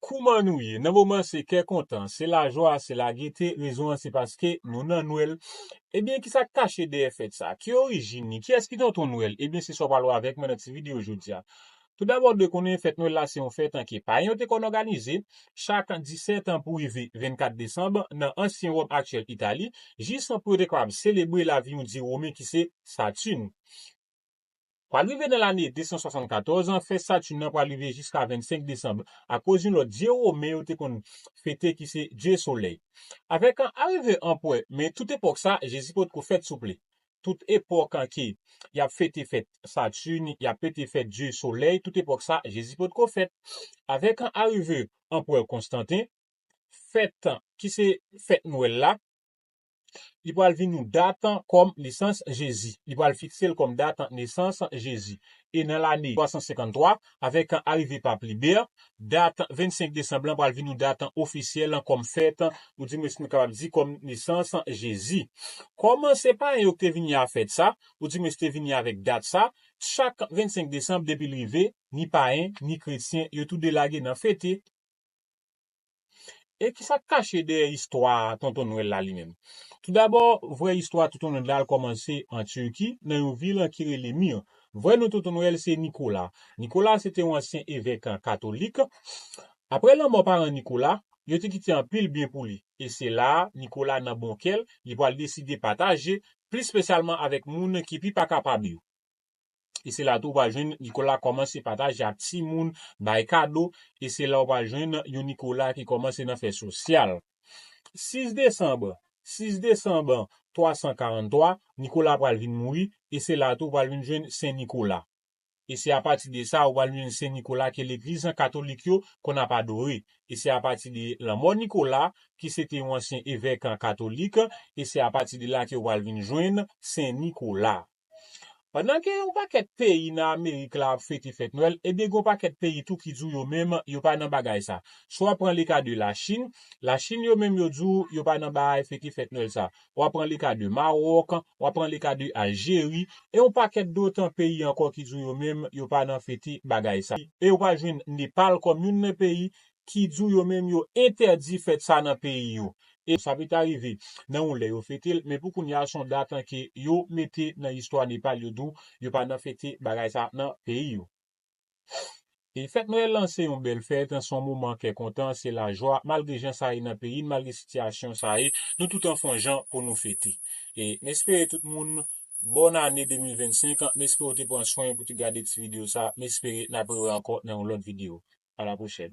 Kouman nou ye? Nan moman se kè kontan, se lajwa, se lagete, rezon an se paske nou nan Nwèl. Ebyen ki sa k kache dèyè fèt sa? Ki orijin li? Kiyès ki Tonton Nwèl? Ebyen se sa w pral wè avèk mwen nan ti videyo jodi a. Toudabò w dwe konnen fèt Nwèl la se yon fèt an ke payen yo te konn òganize chak 17 an pou rive 24 desanm nan ansyen Wòm aktyèl Itali jis pou yo te kapab selebre lavi yon dye women ki se Saturne. pral rive nan lane 274 an, fèt Saturn nan pral rive jiska 25 desanm akoz yon lòt dye women yo te konn fete ki se dye solèy. Avèk an arive anpwè men tout epòk sa Jezi potko fèt souple. Tout epòk an ke yap fete fèt Saturn, yap pete fèt dye solèy tout epòk sa Jezi potko fèt. Avèk an arive anpwè Konstanten, fèt ki se fèt nwèl la, Li pral vin yon dat kòm nesans Jezi. Li pral fikse l kòm dat nesans Jezi. E nan lane 353, avèk arive Pap Liber, dat 25 desanm lan pral vin yon dat ofisyèl kòm fèt, oudimwens nou kapab di kòm nesans Jezi. Kòm se payen yo ki te vini a fèt sa, oudimwens te vini avèk dat sa, chak 25 desanm depi l rive, ni payen, ni kretyen, yo tou de lage nan fete. E kisa k kache dèyè istwa Tonton Nwèl la li menm? Toudabò, vrè istwa Tonton Nwèl la kòmanse an Tirki, nan yon vil ki rele Mir. Vrè non Tonton Nwèl se Nikola. Nikola se te yon ansyen evèk katolik. Apre lanmò paran Nikola, yo te kite anpil byen pou li. E se la a, Nikola nan bon kè l, li pral deside pataje, plis spesyalman avèk moun ki pi pa kapab yo. E se la tou ou pral jwenn Nikola kòmanse pataje ak timoun, bay kado, e se la ou pral jwenn yon Nikola ki kòmanse nan fè sosyal. 6 desanm 6 desanm 343, Nikola pral vin mouri, e se la tou ou pral vin jwenn Sen Nikola. E se apati de sa ou pral jwenn Sen Nikola ke legliz katolik yo konn ap adore. E se apati de lanmò Nikola, ki se te yon ansyen evèk katolik, e se apati de la ke ou pral vin jwenn Sen Nikola. Pandan ke yon pakèt peyi nan Amerik la ap fete fèt Nwèl, ebyen gen yon pakèt peyi tou ki di w yo menm yo pa nan bagay sa. Si w ap pran leka de Lachin, Lachin yo menm yo di w yo pa nan baay fete fèt Nwèl sa. W ap pran leka de Mawòk, w ap pran leka de Aljeri, e yon pakèt dotan peyi ankò ki di w yo menm yo pa nan fete bagay sa. E ou pa jwenn Nepal kòm youn nan peyi ki di w yo menm yo entèdi fèt sa nan peyi yo e sa pe ta rive nan yon lè yo fete l men pou kounye a s on dat ke yo mete nan istwa Nepal yo di w yo pa nan fete bagay sa nan peyi yo. E fèt nwèl lan se yon bèl fèt se yon moman kè kontan se lajwa malgre jan sa ye nan peyi n malgre sitiyasyon sa ye nou toutan fon jan pou nou fete e m espere tout moun Bòn ane 2025 an, m espere ou te pran swen pou te gade ti video sa, m espere n ap re wè ankò nan yon lòt video. A la pwochèn.